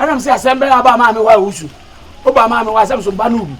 ɛnam sɛ asɛm bɛyɛ aba maame hɔ a wosu woba maame hɔ asɛm so ba no bi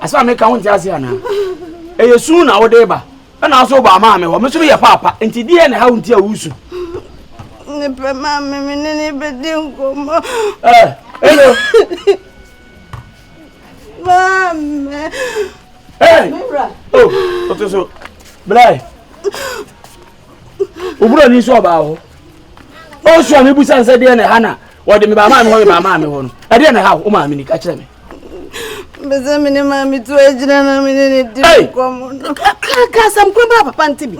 asɛm a meka ho nte ase anaa ɛyɛ su na wode ba ɛna nso wobaa maa me hɔ me nso meyɛ paapa nti deɛ na ɛhaw nti a wosu ne pɛ maa me me ne ne bɛdi nkɔmmɔ ɛno maame ɔto so blɛ owura ni nso ɔbaa hɔ ɔsu a mebusa nsɛ deɛ na ɛha na wɔde mebaa maa me hɔ mebaa maa me hɔ no ɛdeɛ na ɛha wo maame ni ka kyerɛ me Mbese me ne maame tu agyina na me ne ne di nkɔm no. Ka asɛm koro baa papa nti bi.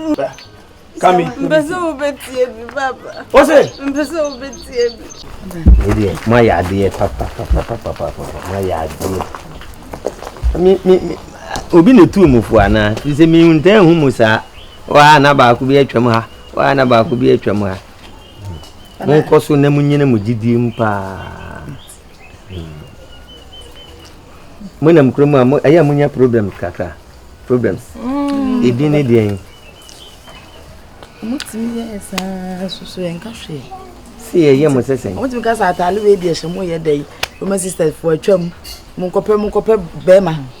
Kami. Mbese wo betie bi papa. O se. Mbese wo betie bi. Edeɛ mo ayɛ adeɛ papa papa papa papa mo ayɛ adeɛ. Mi mi mi obi na etu mu fo ana. Fi se mi ntaa hu mu saa. Waa na baako bi atwam ha. Waa na baako bi atwam ha. Mo nkɔ so na mo nyina mo gyidie mu paa. monam kurom a ɛyɛ a monya problems kakra problems ɛdin mm. ne deɛn motumi yɛ saa soso ɛnka hwee sɛ yɛyɛ mo sɛ sɛn motumi ka sɛ atale wei deɛ hyɛ mo yɛ dɛ woma sisters fo atwam monkɔpɛ monkɔpɛ bɛrima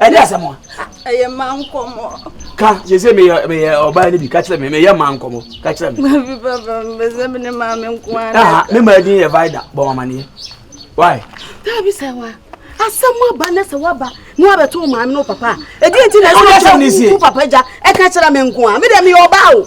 ɛne asɛm a ɛyɛ ma nkɔmmɔ ka sɛ sɛ meyɛ meyɛ ɔbaa no bi ka kyerɛ me meyɛ ma nkɔmmɔ ka kyerɛ me babi papa mbɛsɛ me ne maa me nko ana me maa din yɛ vida bɔ amaneɛ why dabi sɛ wa asɛm aba na sɛ waba na wabɛto wo maame no papa a ɛdeɛ nti na ɛsɛ wo papa gya ɛka kyerɛ me nko a medɛ meyɛ ɔbaa o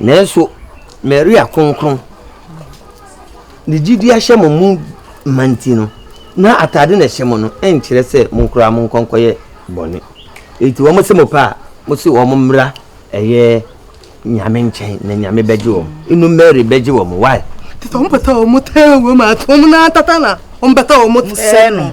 Nanso Maria Kronkron, ne gyidi ahyɛ mo mu ma nti no, na atade na ɛhyɛ mo no nkyerɛ sɛ monkora monkɔ nkɔyɛ bɔne. Enti wɔn sɛ mo pɛ a, mo se wɔn mmra ɛyɛ Nyame nkyɛn na Nyame bɛgye wɔn. Inu Mary bɛgye wɔn. Why? Tete wɔn pɛtɛ wɔn tɛɛ wɔn a, wɔn na tata na wɔn pɛtɛ wɔn tɛɛ no.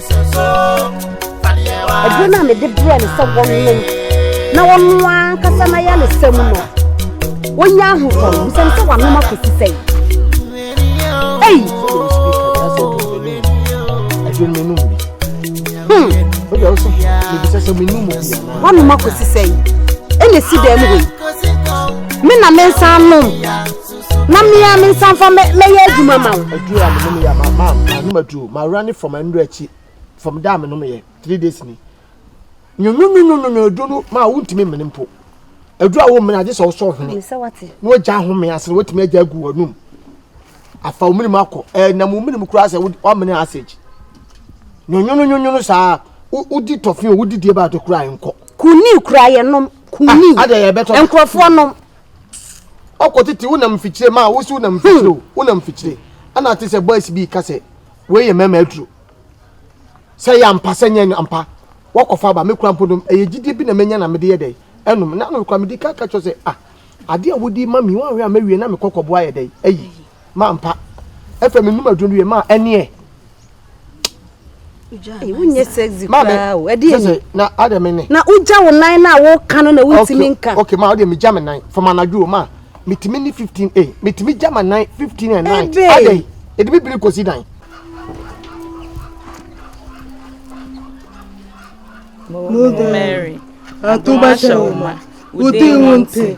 ɛduro no a mede brɛ no sɛ wɔnom na wɔno ankasa no ayɛ no sɛm no wɔnya ahotɔ no bisɛm sɛ wɔanom akɔsi sɛe ei wɔnom akɔsi sɛe ɛna si dɛm wei me na mensa nom na mmea me nsa mfa mɛyɛ adwuma ma wo. aduru a menom yɛ ma ma manom aduru mawura ne fam anuru akyi fam da a menom yɛ three days ni nyonyonyonyonyo aduru no ma wontumi mmene mpo aduru a wommene agye sɛ wosɔ hwene na wagya ahome ase na watumi agya agu w'anum afa wo minimu akɔ ɛnam wo minimu koraa sɛ woamene asage nyonyonyonyono saa wodi tɔfe o wodi die baate koraa nkɔ kuni koraa yɛnom kuni ah, nkurɔfoɔ nom Ɔkɔ tete wo nam mfikyire ma wo si wo nam mfikyire o wo nam mfikyire ɛna ate sɛ boys bi ka sɛ wei yɛ mɛma aduro sɛ yɛ ampa sɛ nyɛ ampa wɔkɔfa aba me kura mpo nom ɛyɛ gyidie bi na menya na mede yɛ dɛ ɛnom na no kura mede ka ka kyerɛ sɛ ah adeɛ a wodi ma mi wɔn awɛ a mɛwie na mekɔ kɔboa yɛ dɛ ayi ma mpa ɛfɛ mi num aduro no wie ma ɛneɛ. wonyɛ sexy paa o ɛdi yɛ ni na adɛ mi ni. na wogya wo nan na woka no na wontumi nka. ok ma ɔdeɛ megya me nan fam anadwo o ma metumi ni fifteen eh metumi gya ma nan fifteen and nine adɛ yi ɛdi mi biri kosi dan. Mary, atubasha uma, uti unti.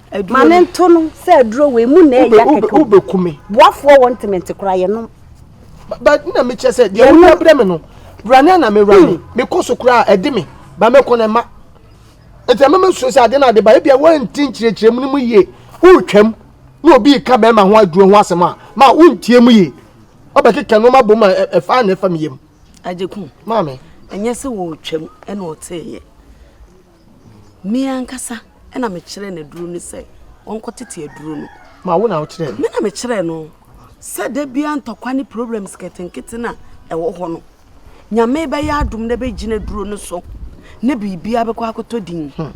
aduro ma ne nto no sɛ aduro wei mu na ɛyɛ kɛkɛ wobɛku me boafoɔ wɔ ntemente koraa yɛnom ba na mekyerɛ sɛ deɛ wonya berɛ me no wura ne ana mewura me mekɔ so koraa ɛde me ba mɛkɔ no ma nti ɛma masuo sɛ ade no ade ba ebia woanti nkyerɛkyerɛ mu no mu yie woretwam na obi ka bɛrima ho aduro ho asɛm a ma wontie mu yie ɔbɛkeka nnoɔma bom a ɛfa na ɛfa me yam agyeku maame ɛnyɛ sɛ wɔretwam ɛna ɔteeɛ Me ankasa na mekyerɛɛ no aduro no sɛ ɔnkɔtete aduro no. Ma wo na wokyerɛɛ no? Me na mekyerɛɛ no sɛ da biara ntɔkwa ne problems nketenkete na ɛwɔ hɔ no nyame bɛyɛ adom na bɛgyina aduro no so na biribiara bɛkɔ akɔtɔ din. Hmm.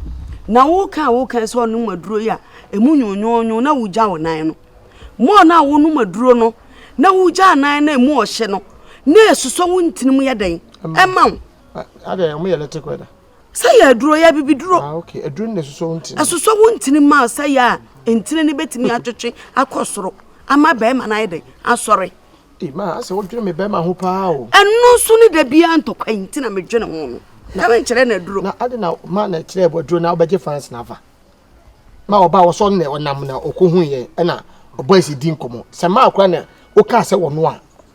Na woka a woka sɛ ɔnom aduro yi a ɛmu nwonwonwo na wogya wo nan no. Mɔɔ no a wonom aduro no na wogya nan na ɛmu ɔhye no na ɛsosɔ wo ntinim yɛ dɛn ɛma wo. Adɛn, ɔmo yɛ electric weather? sɛ yɛ aduro yɛ abibiduro ah, okay. aduro no na ɛsosɔ wo ntini ɛsosɔ wo ntini ma sɛ yɛ a ntini no bɛtumi atwetwe akɔ soro ama bɛrima no ayɛ dɛn asɔre ma asɛ wodwene me bɛrima ho paa o ɛno nso ne da biara ntɔkwa yi nti na medwene ho no na menkyerɛ no aduro na ade na ma na ɛkyerɛ bɔ aduro na wobɛgye fans na afa ma ɔba wɔsɔ nnɛ ɔnam na ɔkɔhu yɛ ɛna ɔbɔ asi di nkɔmmɔ sɛ maa kora na wokaa sɛ wɔno a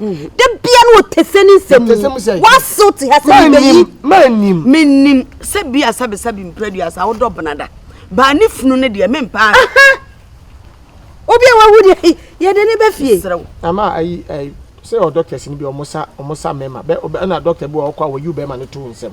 mhm. da bia na ɔtɛsɛ ne nsɛm mu wasew te ha sɛ mebɛyi menim sɛ bi asabesabe mpira dua sa wodɔ benada baa ne funu no deɛ mempaa obi a wawu deɛ yɛde ne bɛfie ama ayi ayi sɛ ɔdɔktɛs no bi ɔmo sa ɔmo sa mɛma bɛ ɛna dɔkta bi wɔ ɔkɔ a wɔyi bɛma no to nsɛm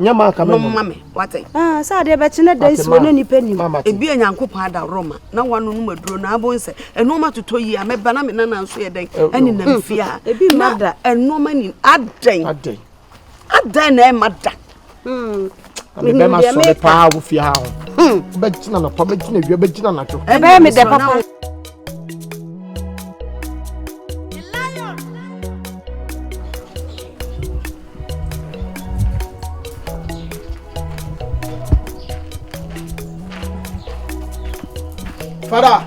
nyɛ ma nka mɛnom ma me wate ah, sɛ adeɛ bɛkye na da nsuo na nnipa nim ebia nyankopɔn adaworo ma na wanonom aduro na abɔ nsɛ ɛnoɔma totɔ yi a mɛba na me nana nso yɛ dɛn ɛne nam fie a ebi mma da ɛnoɔma ni adɛn adɛn na ɛma da mebɛma sɔ me paa wo fie ha ho wobɛgyina nɔpa bɛgyina awia bɛgyina nadwo ɛbɛyɛ me dɛ papa Father.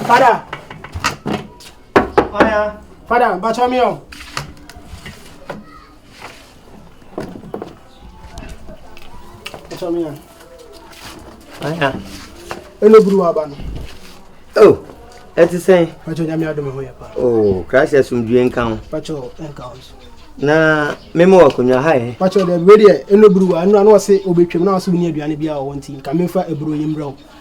Father. Aya. Father, bacha mi o. Acha me yan. Aya. Ele buru wa ba no. Oh. Eti sen. Pacho nya me adome ho ye pa. Oh, crash asum due nka ho. Pacho nka ho. Na me mo akonya ha eh. Pacho de we de ele buru wa no no se obetwem na so ni aduane bia wo nti nka me fa eburu yembrɛ wo.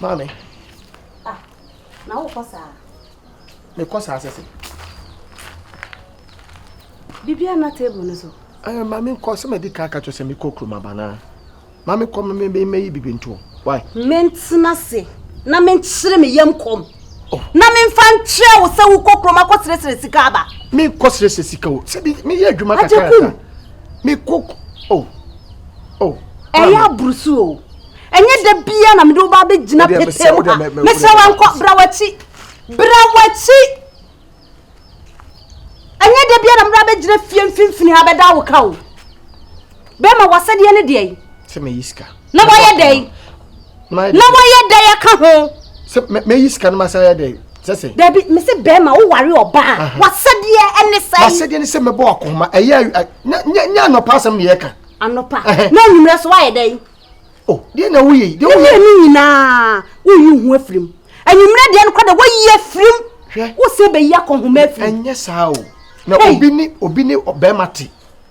Maame. Ah, na wokɔ saa? Mekɔ saa sɛ sɛ. Biribiara na table no so. Ɛɛ maame nkɔ sɛ madi kan ka kyerɛ sɛ mekɔ kurom aba no a. Maame kɔ mɛyi biribi ntoɔ. Why? Mentena se na menkyere me yam kɔm. Oh. Na memfa nkyerɛ wo sɛ wokɔ kurom akɔseresere sika aba. Menkɔ seresere sika o. Sɛbi meyɛ adwuma kakra. Agyekum. me koko oh oh ɛyɛ aburusu o ɛnyɛ da bia na mede wo ba bɛgyina pete mu ha mesrɛ wankɔ bra wakyi bra wakyi ɛnyɛ da bia na mede bɛgyina fie mfimfini ha bɛda wo ka o bɛma wasɛdeɛ ne deɛ sɛ meyɛ sika na wayɛ dɛn na wayɛ dɛn aka ho sɛ mɛyi sika no ma sɛ ayɛ dɛn sɛsɛ dabi me sɛ bɛrima woware ɔbaa wasɛdeɛ ɛne sɛ wasɛdeɛ ne sɛ mɛbɔ akoma ɛyɛ nyɛ anɔpa asɛm ne yɛka anɔpa na anwummerɛ so wayɛ dɛn o deɛ na woyɛ deɛ woyɛ ne nyinaa woyi ho afirim anwummerɛ deɛ no kɔ dɛ woyi afirim wosɛ bɛyi akɔhoma afirim ɛnyɛ saa o na obi ne obi ne bɛrima te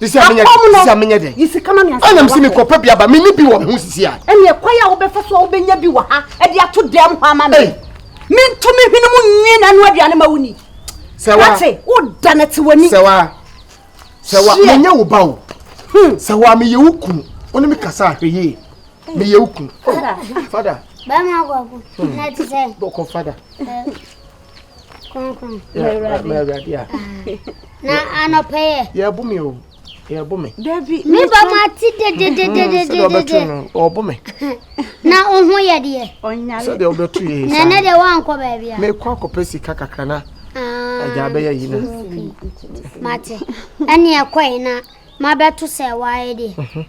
Sisi a menyɛ dɛ. Sisi a menyɛ dɛ. Yi sika ma mi ansa. Ɛnam si mi kɔ pɛ bi aba mi ni bi wɔ mi ho sisi a. Ɛni ɛkwa yi a wobɛfa so a wobɛnya bi wɔ ha ɛde ato dɛm hɔ ama mi. Mi nto mi hwene mu nwie na ɛno aduane ma wuni. Sɛwa. Ate wo da na te w'ani. Sɛwa. Sɛwa mi nyɛ wo ba o. Hmm. Sɛwa mi yɛ wo kunu. Wɔn mi kasa ahwɛ yie. Mi yɛ wo kunu. Fada. Bɛrima akɔkɔ. Ɛti sɛ. Bɔkɔ fada. Kronkron. Mawurade a. Na anɔpɛ yɛ. Yɛbo me o. Yɛbo me. Dabi. Me ba ma ti dedededede. Sɛdeɛ ɔbɛto no ɔbo me. Na oho yɛ deɛ. Ɔnyale. Sɛdeɛ ɔbɛto yɛ saa. Nana deɛ wankɔ baabi a. Mekɔ akɔpɛ sika kakra na. Agya abɛyɛ yi na. Mate. Ɛne ɛkɔe na mabɛto sɛ waayɛ deɛ.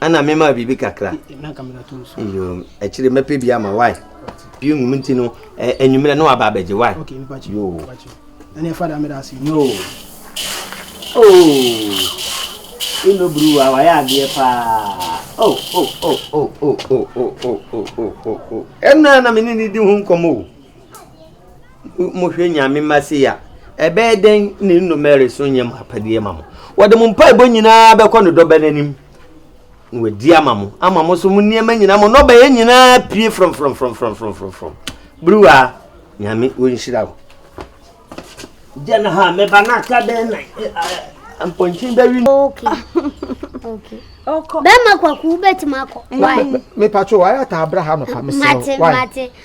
ɛna mema biribi kakra akyire mɛpɛ bi ama wae pii nwum nti no anwummerɛ na waba abɛgye wae ino buruwa wayɛ adeɛ paa ɛno a na mene ne di ho nkɔmmɔ o Mohwɛ Nyame mma sei a, ɛbɛyɛ dɛn na nnome reso nyɛ mo apɛdeɛ ma mo? Wɔde mo mpaebɔ nyinaa bɛkɔ ne dɔbɛ no anim na wadi ama mo ama mo so mo nneɛma nyinaa mo nnɔbaeɛ nyinaa pie frɔmfrɔmfrɔmfrɔmfrɔmfrɔm beruwa nyame wɔnhyira wo gya no ha meba no aka bɛn na mpɔnkye bɛwi no bɛma kwaku wobɛtumi akɔ mepatwo wayɛ ataa bra ha nɔpa mesɛ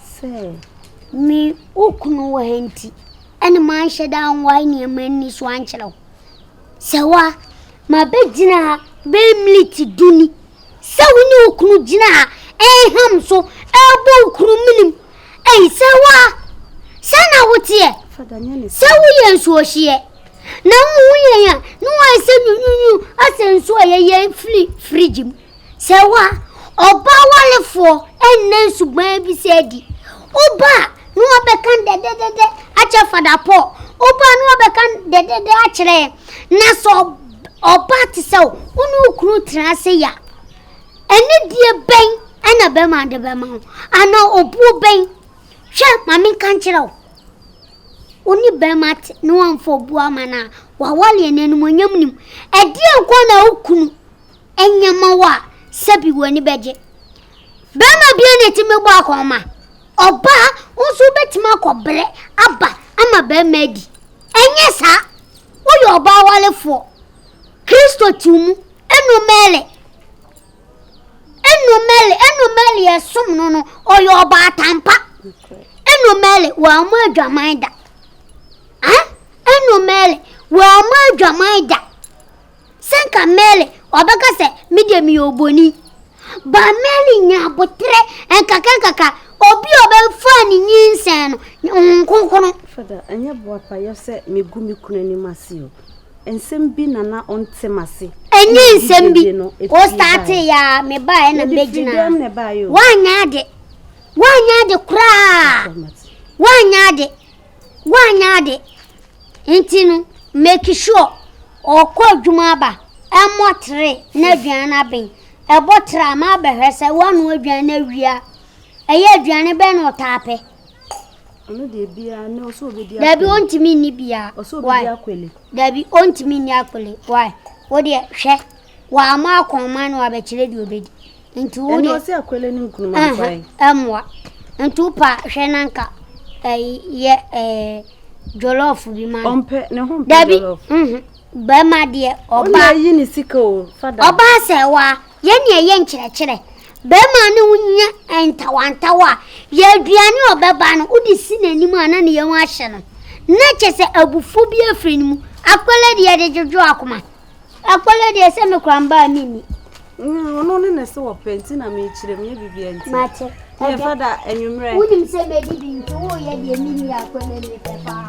sɛ. Me wo kunu wɔ ha nti ɛne manhyɛ da anwae nneɛma nni so ankyerɛ wo. Sɛ wa, mabɛgyina ha bɛyɛ militi du ni sɛ wo ne wo kunu gyina ha ɛnham so ɛbɔ wo kunu menim. Ei, sɛ wa, sɛ na woteɛ, sɛ woyɛ nsuohyeɛ na wohu yɛn a ne wɔayɛ sɛ nyunyunyu asɛ nsuo a yɛyɛ firi firigye mu. Sɛ wo a, ɔbaa warefoɔ nna nsuban bi sɛ adi. Woba a, na wɔbɛka dɛdɛdɛdɛ akyerɛ Fada Paul. Woba a, na wɔbɛka dɛdɛdɛ akyerɛ yɛn. Na sɛ ɔbaa te sɛ wo, wo ne wo kunu tena ase yɛ a, anidie bɛn na bɛrima de bɛma wo? Anaa obuo bɛn? Hwɛ, ma menka nkyerɛ wo. Wo ne bɛrima te na wamfa obuo ama no a, wawale yɛn animuonyam nim. Ɛdeɛ nko na wo kunu ɛnyɛ ma wo a sɛbi w'ani bɛgye bɛrima bia na ɛtumi bɔ akɔma ɔbaa wo nso wobɛtumi akɔbrɛ aba ama bɛrima adi ɛnyɛ saa woyɛ ɔbaa walefoɔ kristo ti mu ɛnu mɛlɛ ɛnu mɛlɛ ɛnu mɛlɛ yɛ som no no ɔyɛ ɔbaa tampa ɛnu mɛlɛ wɔn mo adwaman da ɛnu mɛlɛ wɔn mo adwaman da. Sɛ nka Mary ɔbɛka sɛ, Me deɛ meyɛ oboni. Ba Mary nya aboterɛ nkakrankakra, obi a ɔbɛfaa ne nyinsɛn no, Honhom Kronkron. Fada, ɛnyɛ boapayɔ sɛ megu me kunu anim ase o. Nsɛm bi na na ɔnte m'ase. Ɛnyɛ nsɛm bi, wo startee yɛ a mebaeɛ na mebɛgyinaa. Woanyɛ ade. Woanyɛ ade koraa. Woanyɛ ade. Woanyɛ ade nti no, make sure ɔkɔ adwuma aba, ɛmmɔ tere na aduane no aben. Ɛbɔ tere a, ma abɛhwɛ sɛ woanoa aduane no awie a. Ɛyɛ aduane bɛn na ɔtaa pɛ? Ɔno deɛ biara ne ɔsɛ obedi akwele. Dabi ontumi nni biara. Ɔsɛ obedi akwele. Dabi ontumi nni akwele. Why? Wo deɛ hwɛ W'ama akɔn ma no abɛkyerɛ deɛ ɔbɛdi. Nti wo deɛ. Ɛno ɔsi akwele no nkunuma nkwan. Ɛmoa. Nti wo pa hwɛ na nka ɛyi yɛ ɛɛ jollof bi ma no. Ɔmpɛ ne ho mpɛ jollof. Dabi. Bɛrima deɛ ɔba. Ɔna ayi ne sika o fada. Ɔba sɛ wa yɛ ne ɛyɛ nkyerɛkyerɛ. Bɛrima ne wo nyɛ ntawantawa a yɛ aduane ɔbɛba no wode si n'anim a na ne yɛn ho ahyɛ no. Na kyɛ sɛ abufuo bi afiri ne mu. Akwele deɛ yɛde dwodwo akoma. Akɔlɛ deɛ sɛ me kora mbaa me ni. Ɔno ne ne se wɔpɛ nti na mekyerɛ mu yɛ biribi nti. Mate. Yɛ fada anwummerɛ. Wonim sɛ mɛdi bi nti woyɛ deɛ me ni akɔlɛ ne pɛ paa.